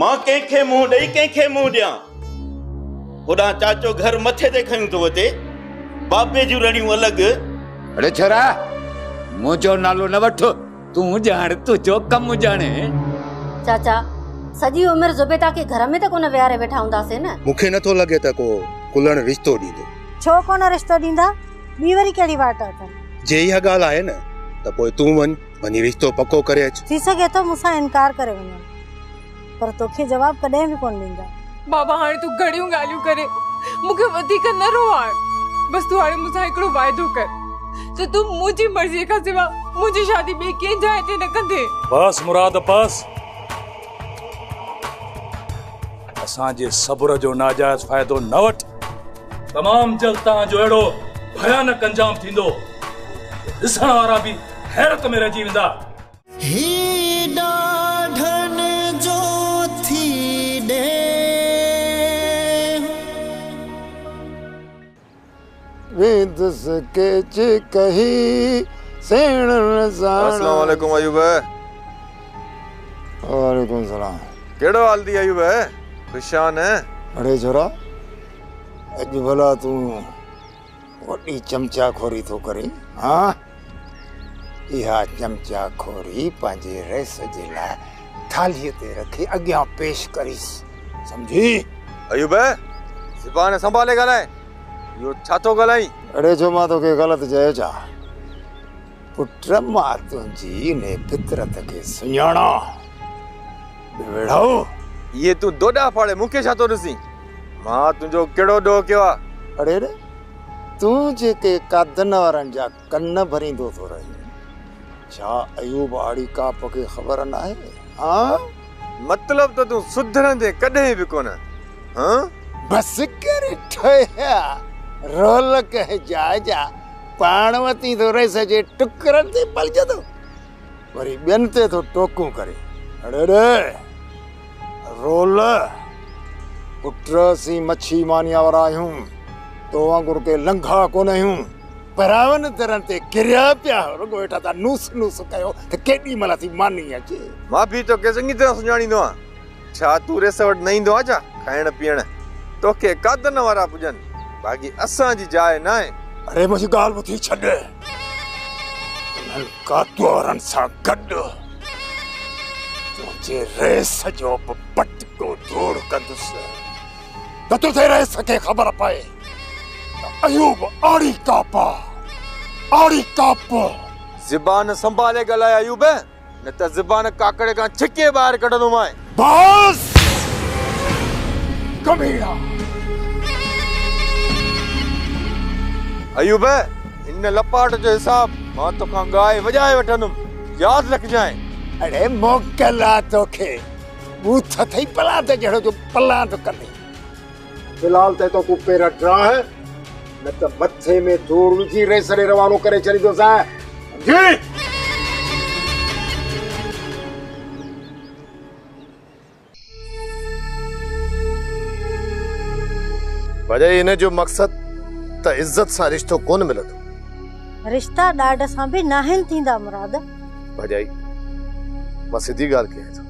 مان ڪنهن کي منهن ڏئي ڪنهن کي منهن ڏيان. هوڏانهن چاچو گهر مٿي تي کنيون ٿو وتي، بابي جون رڙيون الڳ. اڙي ڇورا! منهنجو نالو نه وٺ، تون ڄاڻ تنهنجو ڪم ڄاڻي. چاچا، سڄي عمر زبيده کي گهر ۾ ته ڪونه ويهاري ويٺا هونداسين نه؟ مون کي نٿو لڳي ته ڪو ڪلهڻ رشتو ڏيندو. ڇو ڪونه رشتو ڏيندا، ٻي وري ڪهڙي واٽ اٿن. جي اها ڳالهه آهي نه ته پوء تون وڃ. وڃي رشتو پڪو ڪري اچ. ٿي سگهي ٿو مون سان انڪار ڪري وڃن پر توکي جواب ڪڏهن به ڪونه ڏيندا. بابا هاڻي تون گهڻيون ڳالهيون ڪري مون کي وڌيڪ نه روئار بس تون هاڻي مون سان هڪڙو واعدو ڪر ته تون منهنجي مرضي کان سوا منهنجي شادي ٻئي ڪنهن جاء تي نه ڪندين. بس مراد بس. اسان جي صبر جو ناجائز فائدو نه وٺ. تمام جلد توهان جو اهڙو ڀيانڪ انجام ٿيندو جو ڏسڻ وارا به حيرت ۾ رهجي ويندا. هي ڏاڍن جو ٿي ڏينهن. ويندس ڪيچ ڪهي سيڻن ساڻ. السلام عليڪم ايوب. وعليڪم السلام. ڪهڙو حال اٿئي ايوب خوشان. اڙي ڇورا اڄ ڀلا تون وڏي چمچا خوري ٿو ڪرين ها. اها چمچا کوري پنهنجي رئيس جي لاء ٿالهيء تي رکي اڳيان پيش ڪريس. سمجهي؟ ايوب! زبان سنڀالي ڳالهاء. اهو ڇا ٿو ڳالهائين؟ اڙي ڇو مان توکي غلط چيو ڇا؟ پٽ مان تنهنجي انهيء فطرت کي سڃاڻان. بي ويڙهائو! اهي تون دوڏا ڦاڙي مون کي ڇا ٿو ڏسين؟ مان تنهنجو ڪهڙو ڏوهه ڪيو آهي؟ اڙي اڙي! تون جيڪي قادن وارن جا ڪن ڀريندو ٿو رهين، ڇا ايوب آڙي ڪاپ کي خبر ناهي؟ هانء؟ مطلب ته تون سڌرندين ڪڏهن به ڪونه، هانء؟ بس ڪر ٺوهيا، رولڪ هجاء جا پاڻ وتين ٿو رهين سڄي ٽڪرن تي پلجندو. وري ٻين تي ٿو ٽوڪون ڪري. اڙي ڙي! رول! پٽ اسين مڇي مانيا وارا آهيون، تو وانگر ڪي لنگها ڪونه آهيون، پراون درن تي ڪريا پيا آهيون، رڳو هيٺان تان نوس نوس ڪيو ته ڪيڏي مهل اسين ماني اچي. مان به توکي چڱي طرح سڃاڻيندو آهيان. ڇا تون ريس وٽ نه ايندو آهين ڇا کائڻ پيئڻ توکي قادن وارا پڄن باقي اسان جي جاء ناهي. اڙي منهنجي ڳالهه ٻڌي ڇڏ انهن قادوارن سان گڏ تنهنجي ريس جو به پٽڪو ڌوڙ ڪندس ته تنهنجي ريس کي خبر پئي ته ايوب آڙي ڪاپا آڙي ڪاپو. زبان سنڀالي ڳالهاء ايوب. نه ته زبان ڪاڪڙي کان ڇڪي ٻاهر ڪڍندومانء. بس! ڪمينا! ايوب! ان لپاٽ جو حساب مان توکان ڳائي وڄائي وٺندم. ياد رکجانء. اڙي موڪل آ توکي. ٻوٿ اٿئي پلاند جهڙو جو پلاند ڪندين. في الحال تي تو ڪون پير ڊراهه نه ته مٿي ۾ ڌوڙ وجهي ريس ڏي روانو ڪري ڇڏيندوسانء جي ڀڄائي ان جو مقصد ته عزت سان رشتو ڪون ملندو رشتا ڏاڍ سان به ناهن ٿيندا مراد ڀڄائي مان سڌي ڳالهه ڪيائين ٿو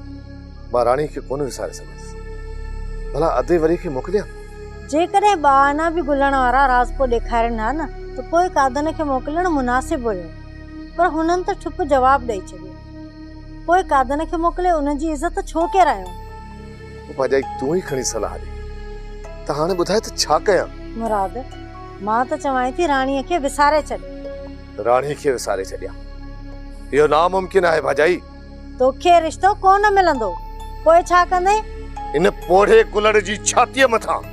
مان راڻي کي ڪونه وساري سگهندس ڀلا ادي وري کي موڪليان جيڪڏهن ٻا آئنا به گهلڻ وارا راز پوء ڏيکارين ها نه ته پوء قادن کي موڪلڻ مناسب هيو پر هنن ته ٺپ جواب ڏئي ڇڏيو پوء قادن کي موڪلي انهن جي عزت ڇو ڪيرايو پوپاجائي تون ئي کڻي صلاح ڏي ته هاڻي ٻڌاء ته ڇا ڪيان مراد مان ته چوانء ٿي راڻي کي وساري ڇڏ راڻي کي وساري ڇڏيان اهو ناممڪن آهي ڀاڄائي توکي رشتو ڪونه ملندو پوء ڇا ڪندين؟ ان پوڙهي ڪلهڙ جي ڇاتيء مٿان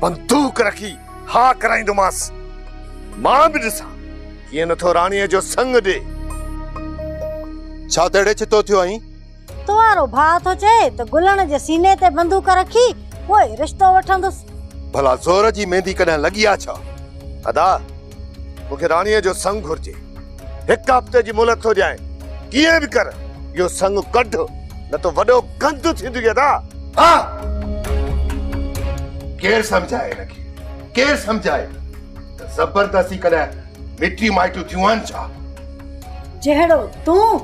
بندوق رکي ها ڪرائيندومانس. مان به ڏسان ڪيئن نٿو راڻيء جو سڱ ڏي. ڇا تهڙي ڇتو ٿيو آهين؟ تو وارو ڀاء ٿو چئي ته گلڻ جي سيني تي بندوق رکي پوء رشتو وٺندس. ڀلا زور جي ميندي ڪڏهن لڳي آ ڇا؟ ادا! مون کي راڻيء جو سڱ گهرجي. هڪ هفتي جي مهلت ٿو ڏيانء. ڪيئن به ڪر اهو سڱ ڪڍ، نه ته وڏو گند ٿيندينء ادا! ها! ڪير سمجهائي هن کي؟ ڪير سمجهائي ته زبردستي ڪڏهن مٽيون مائٽيون ٿيون آهن ڇا؟ جهڙو تون،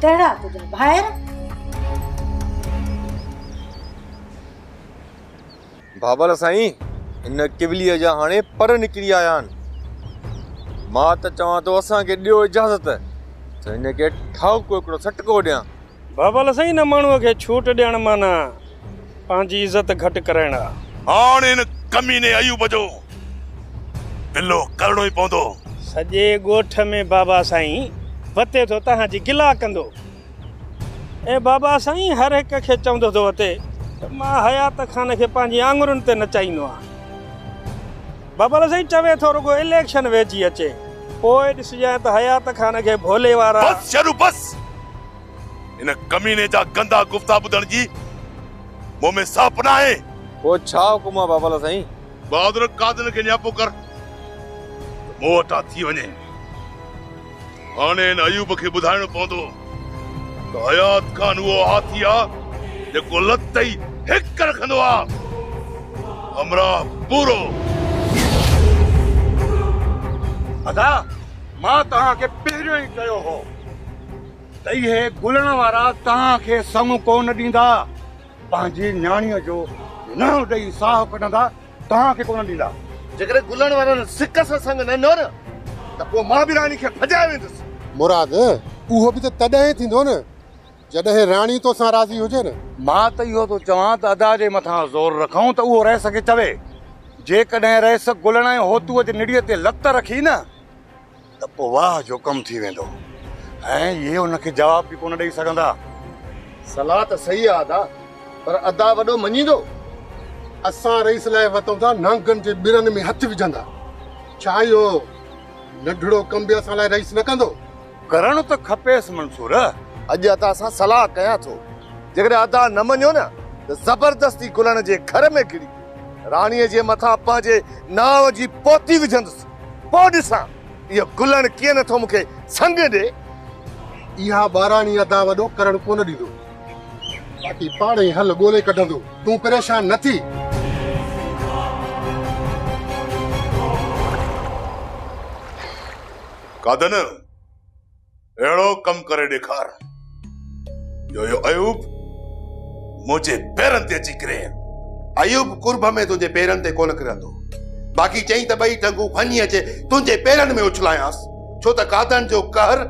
تهڙا تنهنجا ڀائر. بابل سائين ان ڪوليء جا هاڻي پر نڪري آيا آهن. مان ته چوان ٿو اسان کي ڏيو اجازت ته هن کي ٺاهوڪو هڪڙو سٽڪو ڏيان. بابل سائين ان ماڻهوء کي ڇوٽ ڏيڻ معنيٰ پنهنجي عزت گهٽ ڪرائڻ آ. هاڻ هن ڪميني ايوب جو گلو ڪرڻو ئي پوندو. سڄي ڳوٺ ۾ بابا سائين وتي ٿو تهان جي گلا ڪندو. اي بابا سائين هر هڪ کي چوندو ٿو اٿي ته مان حيات خان کي پنهنجي آڱرين تي نچائيندو آهيان. بابل سائين چوي ٿو رڳو اليڪشن ويجهي اچي پوء ڏسجانء ته حيات خان کي ڀولي وارا. بس شيرو بس ان ڪميني جا گندا گفتا ٻڌڻ جي مون ۾ ساهپ ناهي. پوء ڇا حڪم آهي بابل سائين. بهادر قادن کي نياپو ڪر ته مون وٽان ٿي وڃي. هاڻي هن ايوب کي ٻڌائڻو پوندو ته حيات خان اهو هاٿي آ جيڪو لت ئي هڪ رکندو آ. همراهه پورو. ادا مان توهان کي پهريون ئي چيو هو ته اهي گلڻ وارا توهان کي سڱ ڪو نه ڏيندا. پنهنجي نياڻيء جو ننهن ڏئي ساهه ڪڍندا. توهان کي ڪونه ڏيندا. جيڪڏهن گلن وارن سڪ سان سڱ نه ڏنو نه ته پوء مان به راڻي کي ڀڄائي ويندس. مراد، اهو به ته تڏهن ٿيندو نه جڏهن راڻي تو سان راضي هجي نه. مان ته اهو ٿو چوان ته ادا جي مٿان زور رکون ته اهو رئيس کي چوي. جيڪڏهن رئيس گلن ۽ هوتوء جي نڙيء تي لت رکي نه. ته پوء واهه جو ڪم ٿي ويندو ۽ اهي ان کي جواب به ڪونه ڏئي سگهندا. صلاح ته صحيح آ ادا پر ادا وڏو مڃيندو اسان رئيس لاء وتون ٿا نانگن جي ٻرن ۾ هٿ وجهندا ڇا اهو ننڍڙو ڪم به اسان لاء رئيس نه ڪندو. ڪرڻ ته کپيس منصور. اڄ ادا سان صلاح ڪيان ٿو جيڪڏهن ادا نه مڃيو نه ته زبردستي گلڻ جي گهر ۾ ڪري راڻي جي مٿان پنهنجي نانء جي پوتي وجهندس. پوء ڏسان اهو گلڻ ڪيئن نٿو مون کي سڱ ڏي. اها ٻاراڻي ادا وڏو ڪرڻ ڪونه ڏيندو. باقي پاڻ ئي حل ڳولي ڪڍندو. تون پريشان نه ٿي. قادن! اهڙو ڪم ڪري ڏيکار جو اهو ايوب منهنجي پيرن تي اچي ڪري ايوب قرب ۾ تنهنجي پيرن تي ڪونه ڪرندو باقي چئي ته ٻئي ٽنگون ڀڃي اچي تنهنجي پيرن ۾ اڇلايانس ڇو ته قاتن جو قهر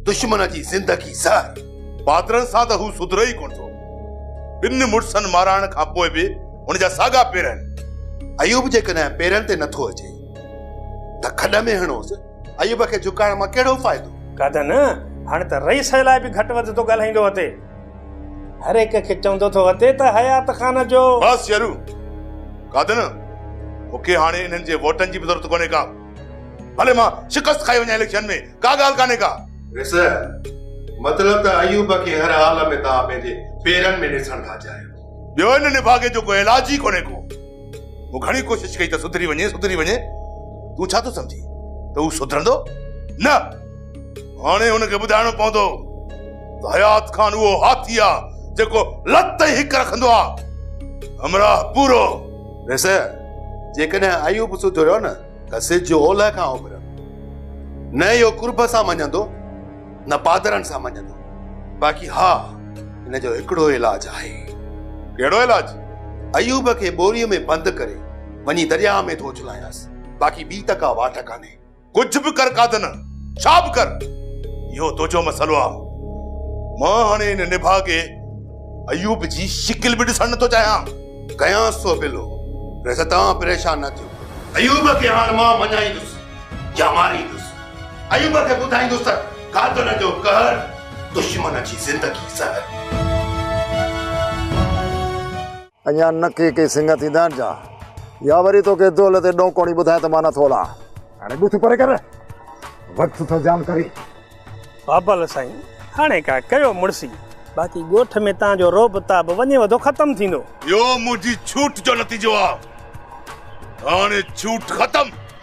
دشمن جي زندگي زهر پادرن سان ته هو سڌري ئي ڪونه ٿو ٻن مڙسن مارائڻ کان پوء به هن جا ساڳا پير آهن ايوب جيڪڏهن پيرن تي نٿو اچي ته کڏ ۾ هڻوس ايوب کي جهڪائڻ مان ڪهڙو فائدو؟ گادن، هاڻي ته رئيس لاء به گهٽ وڌ ٿو ڳالهائيندو هتي. هر هڪ کي چوندو ٿو هتي ته حيات خان جو. بس يارو! گادن، مون کي هاڻي انهن جي ووٽن جي به ضرورت ڪونهي ڪا. ڀلي مان شڪست کائي وڃان اليڪشن ۾ ڪا ڳالهه ڪانهي ڪا. رئيس، مطلب ته ايوب کي هر حال ۾ توهان پنهنجي پيرن ۾ ڏسڻ ٿا چاهيو. ٻيو ان نڀاڳي جو ڪو علاج ئي ڪونهي ڪو. مون گهڻي ڪوشش ڪئي ته سڌري وڃي، سڌري وڃي. تون ڇا ٿو سمجهين ته هو سڌرندو؟ نه! هاڻي هن کي ٻڌائڻو پوندو ته حيات خان اهو هاٿي آ جيڪو لت تائين هڪ رکندو آ. همراهه پورو. ويسي جيڪڏهن ايوب سڌو رهيو نه ته سج اولهه کان اڀرندو. نه اهو قرب سان مڃيندو. نه پادرن سان مڃندو. باقي ها هن جو هڪڙو ئي علاج آهي. ڪهڙو علاج؟ ايوب کي ٻوريء ۾ بند ڪري وڃي درياء ۾ ٿو اڇلايانس. باقي ٻي ته ڪا واٽ ڪانهي. ڪجهه به ڪر قادن، ڇا به ڪر، اهو تنهنجو مسئلو آ. مان هاڻي هن نڀاڳي ايوب جي شڪل به ڏسڻ نه ٿو چاهيان. ڪيانس ٿو اپيلو، ريس توهان پريشان نه ٿيو. ايوب کي هاڻ مان مڃائيندس يا ماريندس. ايوب کي ٻڌائيندس ته قاتل جو قهر، دشمن جي زندگي زهر. اڃا نه ڪي ڪي سڱ ٿيندا آهن جا. يا وري توکي دول تي ڏونڪوڻي ٻڌائي ته مان نه ٿو لان. هاڻي ٻٿ پري ڪر وقت ٿو جام ڪري. بابل سائين هاڻي ڪا ڪيو مڙسي. باقي ڳوٺ ۾ تان جو رعب تاب وڃي وڌو ختم ٿيندو. اهو منهنجي ڇوٽ جو نتيجو آ. هاڻي ڇوٽ ختم.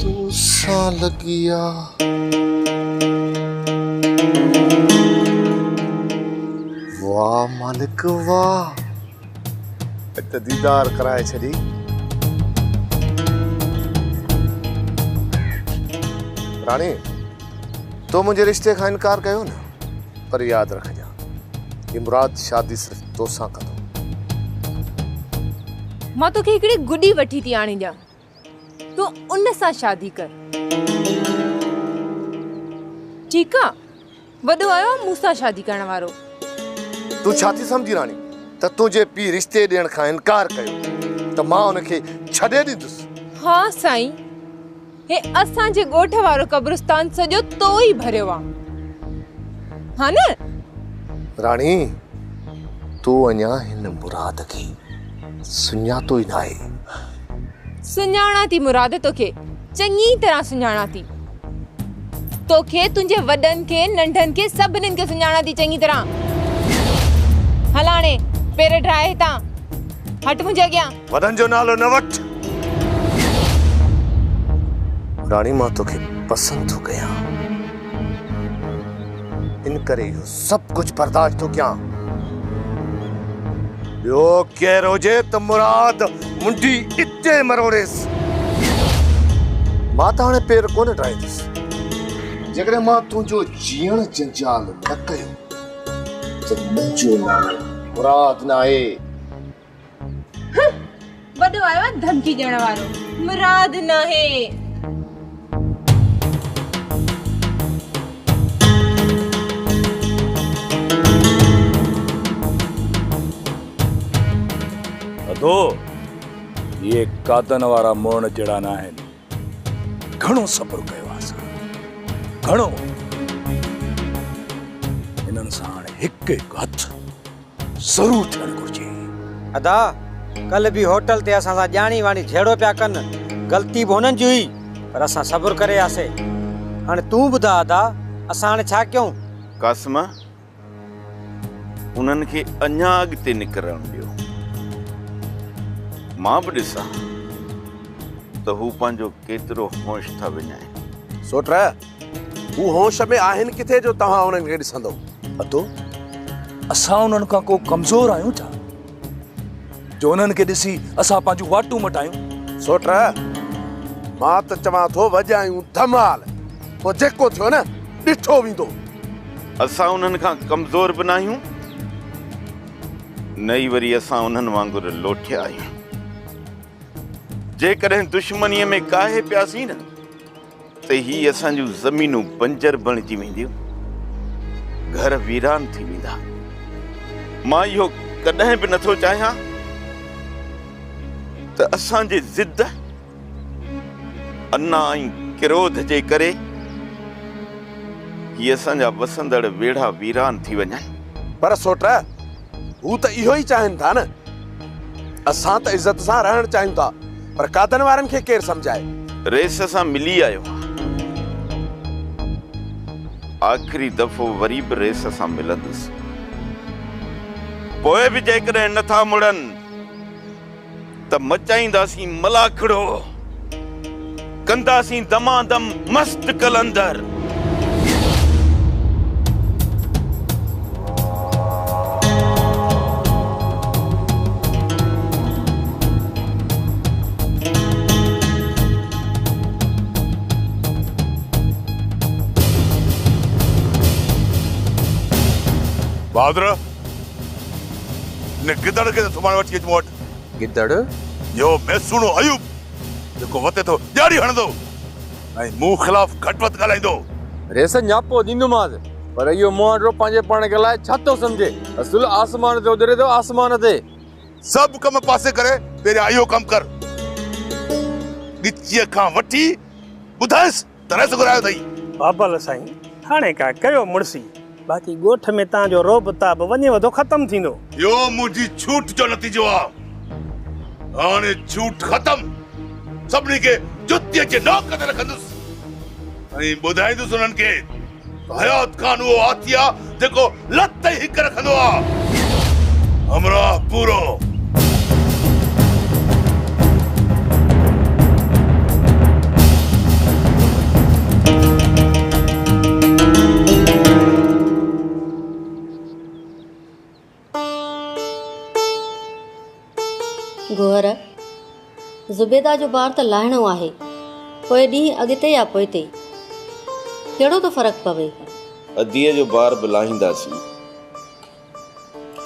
تون سان لڳي آ. واه مالڪ واه اڄ ته ديدار ڪرائي ڇڏي. راڻي تو منهنجي رشتي کان انڪار ڪيو نه پر ياد رکجان هي مراد شادي صرف توسان ڪندو. مان توکي هڪڙي گڏي وٺي ٿي آڻي ڏيان تون ان سان شادي ڪر. ٺيڪ آ وڏو آيو آ مون سان شادي ڪرڻ وارو. تون ڇا ٿي سمجهين راڻي ته تنهنجي پيء رشتي ڏيڻ کان انڪار ڪيو ته مان ان کي ڇڏي ڏيندس. ها سائين هي اسان جي ڳوٺ وارو قبرستان سڄو تو ئي ڀريو آ ها نه. راڻي تون اڃا هن مراد کي سڃاتو ئي ناهي. سڃاڻان ٿي مراد توکي چڱي طرح سڃاڻان ٿي توکي تنهنجي وڏن کي ننڍن کي سڀني کي سڃاڻان ٿي چڱي طرح هلاڻي پير ڊرائي هتان هٽ منهنجي اڳيان وڏن جو نالو نه وٺ راڻي مان توکي پسند ٿو ڪيان ان ڪري اهو سڀ ڪجهه برداشت ٿو ڪيان. ٻيو ڪير هجي ته مراد منڍي اتي ئي مروڙيس. مان ته هاڻي پير ڪونه ڊاهيندس. جيڪڏهن مان تنهنجو جيئڻ جنجال نه ڪيو ته منهنجو نالو مراد ناهي. هه وڏو آيو آهي ڌمڪي ڏيڻ وارو مراد ناهي. ادو اهي قاتن وارا مڙڻ جهڙا نه آهن گهڻو صبر ڪيو آهي اسان گهڻو هنن سان هاڻي هڪ هڪ هٿ ضرور ٿيڻ گهرجي. ادا ڪلهه به هوٽل تي اسان سان ڄاڻي واڻي جهيڙو پيا ڪن غلطي به هنن جي هئي پر اسان صبر ڪري وياسي هاڻي تون ٻڌاء ادا اسان هاڻي ڇا ڪيون. قاسمه انهن کي اڃا اڳتي نڪرڻ ڏيو مان به ڏسان ته هو پنهنجو ڪيترو هونش ٿا وڃائين. سوٽ. هو هوش ۾ آهن ڪٿي جو توهان انهن کي ڏسندو. اتو، اسان انهن کان ڪو ڪمزور آهيون ڇا جو انهن کي ڏسي اسان پنهنجون واٽون مٽايون. سوٽ، مان ته چوان ٿو وڄايون ڌمال، پوء جيڪو ٿيو نه ڏٺو ويندو. اسان انهن کان ڪمزور به ناهيون نه ئي وري اسان انهن وانگر لوٺيا آهيون. جيڪڏهن دشمنيء ۾ ڪاهي پياسين نه. ته هي اسان جون زمينون بنجر بڻجي وينديون، گهر ويران ٿي ويندا. مان اهو ڪڏهن به نٿو چاهيان ته اسان جي ضد، انا ۽ ڪروڌ جي ڪري هي اسان جا وسندڙ ويڙها ويران ٿي وڃن. پر سوٽ! هو ته اهو ئي چاهين ٿا نه. اسان ته عزت سان رهڻ چاهيون ٿا پر قادن وارن کي ڪير سمجهائي. رئيس سان ملي آيو آهيان. آخري دفعو وري به رئيس سان ملندس. پوء به جيڪڏهن نه ٿا مڙن. ته مچائينداسين ملاکڙو، ڪنداسين دمادم مست قلندر. بھادر! ان گدڙ کي ته سڀاڻي وٺي اچ مون وٽ. گدڙ. اهو ميسوڻو ايوب جيڪو وتي ٿو ڏياڙي هڻندو ۽ مون خلاف گهٽ وڌ ڳالهائيندو. ريس نياپو ڏيندومانس. پر اهو مهانڊرو پنهنجي پاڻ کي الائي ڇا ٿو سمجهي. اصل آسمان تي اڏري ٿو آسمان تي. سڀ ڪم پاسي ڪري پهريان اهو ڪم ڪر. ڳچيء کان وٺي ٻڌائينس. تنهن سو گهرايو اٿئي. بابل سائين هاڻي ڪا ڪيو مڙسي باقي ڳوٺ ۾ تان جو رعب تعب وڃي وڌو ختم ٿيندو. اهو منهنجي جهوٽ جو نتيجو آ هاڻي جهوٽ ختم سڀني کي جتيء جي نوڪ تي رکندس ۽ ٻڌائيندس انهن کي. حيات خان اهو هاٿي آ جيڪو لت تائين هڪ رکندو آ. همراهه پورو. گوهر، زبيده جو بار ته لاهڻو آهي، پوء ڏينهن اڳتي يا پوئتي، ڪهڙو ٿو فرق پوي؟ اديء جو بار به لاهينداسين،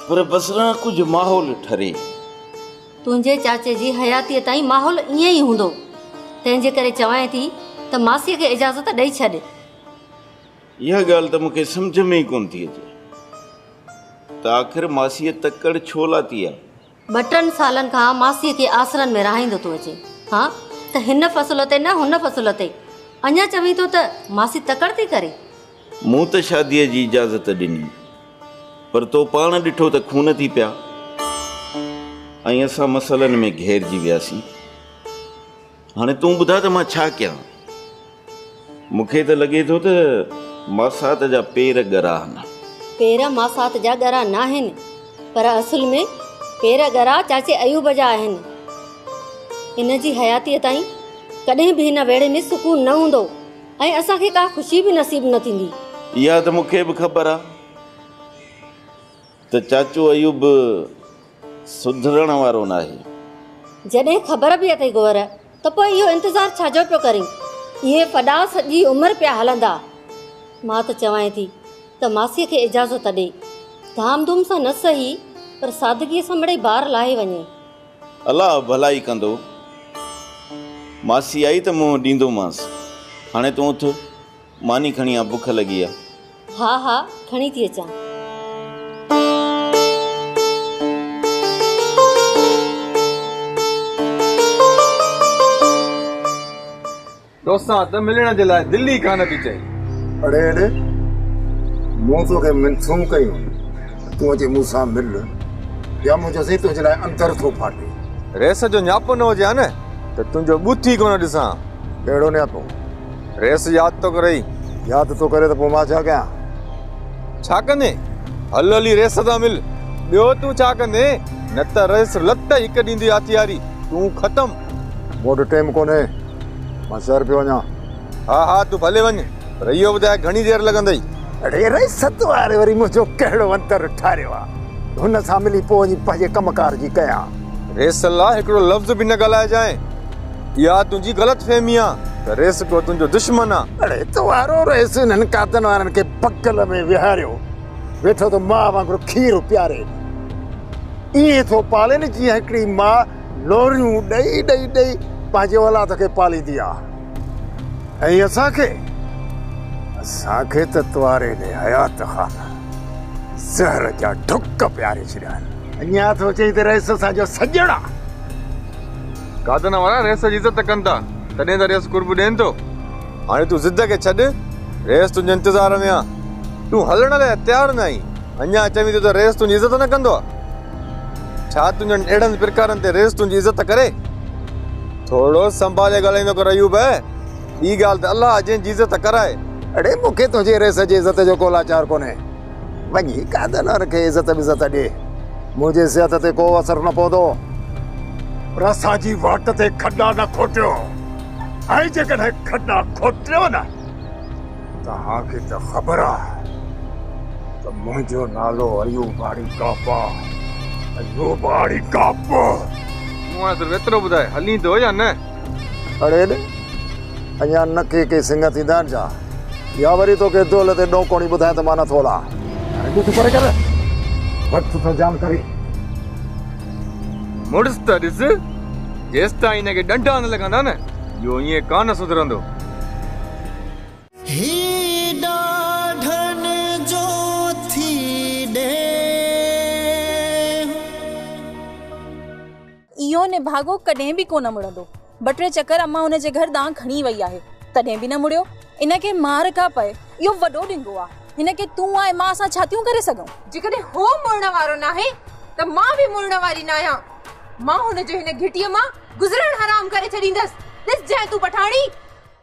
پر بس رهه ڪجهه ماحول ٺري. تنهنجي چاچي جي حياتيء تائين ماحول ائين ئي هوندو، تنهنجي ڪري چوانء ٿي ته ماسيء کي اجازت ڏئي ڇڏ. اها ڳالهه ته مون کي سمجهه ۾ ئي ڪونه ٿي اچي ته آخر ماسيء تڪڙ ڇو لاتي آهي؟ ٻه ٽن سالن کان ماسيء کي آسرن ۾ رهائيندو ٿو اچين ها ته هن فصل تي نه هن فصل تي اڃا چوين ٿو ته ماسي تڪڙ ٿي ڪري؟ مون ته شاديء جي اجازت ڏني پر تو پاڻ ڏٺو ته خون ٿي پيا ۽ اسان مسئلن ۾ گهيرجي وياسين. هاڻي تون ٻڌاء ته مان ڇا ڪيان؟ مون کي ته لڳي ٿو ته ماسات جا پير ڳرا آهن. پير ماسات جا ڳرا ناهن، پر اصل ۾ پير ڳرا چاچي ايوب جا آهن. هن جي حياتيء تائين ڪڏهن به هن ويڙهي ۾ سڪون نه هوندو ۽ اسان کي ڪا خوشي به نصيب نه ٿيندي. اها ته مون کي به خبر آهي. ته چاچو ايوب به سڌرڻ وارو ناهي. جڏهن خبر به اٿئي گوهر ته پوء اهو انتظار ڇا جو پيو ڪرين؟ اهي ڦڏا سڄي عمر پيا هلندا. مان ته چوانء ٿي ته ماسيء کي اجازت ڏي. ڌام ڌوم سان نه سهي پر سادگيء سان مڙئي بار لاهي وڃي. الله ڀلائي ڪندو. ماسي آئي ته منهن ڏيندومانس. هاڻي تون اٿ. ماني کڻي آ بک لڳي آ. ها ها کڻي ٿي اچان. توسان ته ملڻ جي لاء دل ئي ڪانه ٿي چئي. اڙي اڙي مون توکي منٿون ڪيون ته تون اچي مون سان مل يا مون چيسين تنهنجي لاء اندر ٿو ڦاٽي. ريس جو نياپو نه هجي ها نه ته تنهنجو ٻوٿ ئي ڪونه ڏسان ها. ڪهڙو نياپو؟ ريس ياد ٿو ڪرئي؟ ياد ٿو ڪري ته پوء مان ڇا ڪيان؟ ڇا ڪندين؟ هل هلي ريس سان مل. ٻيو تون ڇا ڪندين؟ نه ته ريس لت هڪ ڏيندي هٿياري، تون ختم. مون وٽ ٽيم ڪونهي، مان شهر پيو وڃان. ها ها تون ڀلي وڃ، پر اهو ٻڌاء گهڻي دير لڳندئي؟ اڙي ريست واري وري منهنجو ڪهڙو انتر ٺاريو آ؟ هن سان ملي پوء وڃي پنهنجي ڪم ڪار جي ڪيان. ريس لا هڪڙو لفظ به نه ڳالهائجانء. اها تنهنجي غلط فهمي آ ته رئيس ڪو تنهنجو دشمن آ. اڙي توارو رئيس انهن قاتن وارن کي بغل ۾ ويهاريو ويٺو ته ماء وانگر کير پياري ائين ٿو پالين جيئن هڪڙي ماء لوريون ڏئي ڏئي ڏئي پنهنجي اولاد کي پاليندي آ ۽ اسان کي اسان کي ته تواري ني حيات خان زهر جا ڍڪ پياري ڇڏيا آهن. اڃان ٿو چئين ته رئيس اسان جو سڄڻ آ. گادن وارا ريس جي عزت ڪن ٿا، تڏهن ته ريس قرب ڏين ٿو. هاڻي تون ضد کي ڇڏ، ريس تنهنجي انتظار ۾ آ. تون هلڻ لاء تيار نه آهين، اڃا چوين ٿيون ته ريس تنهنجي عزت نه ڪندو آ. ڇا تنهنجن اهڙن پرڪارن تي ريس تنهنجي عزت ڪري؟ ٿورڙو سنڀالي ڳالهائيندو ڪر ايوب! ٻي ڳالهه ته الله جنهن جي عزت ڪرائي. اڙي مون کي تنهنجي ريس جي عزت جو ڪو لاچار ڪونهي. وڃي قائدانار کي عزت بزت ڏي، منهنجي صحت تي ڪو اثر نه پوندو. پر اسان جي واٽ تي کڏا نه کوٽيو، ۽ جيڪڏهن کڏا کوٽيو نه، توهان کي ته خبر آهي ته منهنجو نالو ايوب آڙي ڪاپا، ايوب آڙي ڪاپو. مون هانء صرف ايترو ٻڌاء، هلين ٿو يا نه؟ اڙي ايڏي اڃا نه ڪي ڪي سنگهه ٿيندا آهن ڇا؟ يا وري توکي دول تي ڏونڪوڻي ٻڌائين ته مان نه ٿو لان. هاڻي ڏس پري ڪر وقت سان جان ڪري. مڙس ته ڏس جيستائين هن کي ڏنڊا نه لڳندا نه اهو ائين ڪانه سڌرندو. هي ڏاڍن جو ٿي ڏيهه. اهو نڀاڳو ڪڏهن به ڪونه مڙندو. ٻه ٽي چڪر امان ان جي گهر ڏانهن کڻي وئي آهي، تڏهن به نه مڙيو. ان کي مار ڪا پئي، اهو وڏو ڏنگو آ. هن کي تون ۽ مان اسان ڇا ٿيون ڪري سگهون؟ جيڪڏهن هو مڙڻ وارو ناهي ته مان به مڙڻ واري ناهيان. مان هن جو هن گهٽيء مان گذرڻ حرام ڪري ڇڏيندس. ڏس جانء تون پٺاڻي!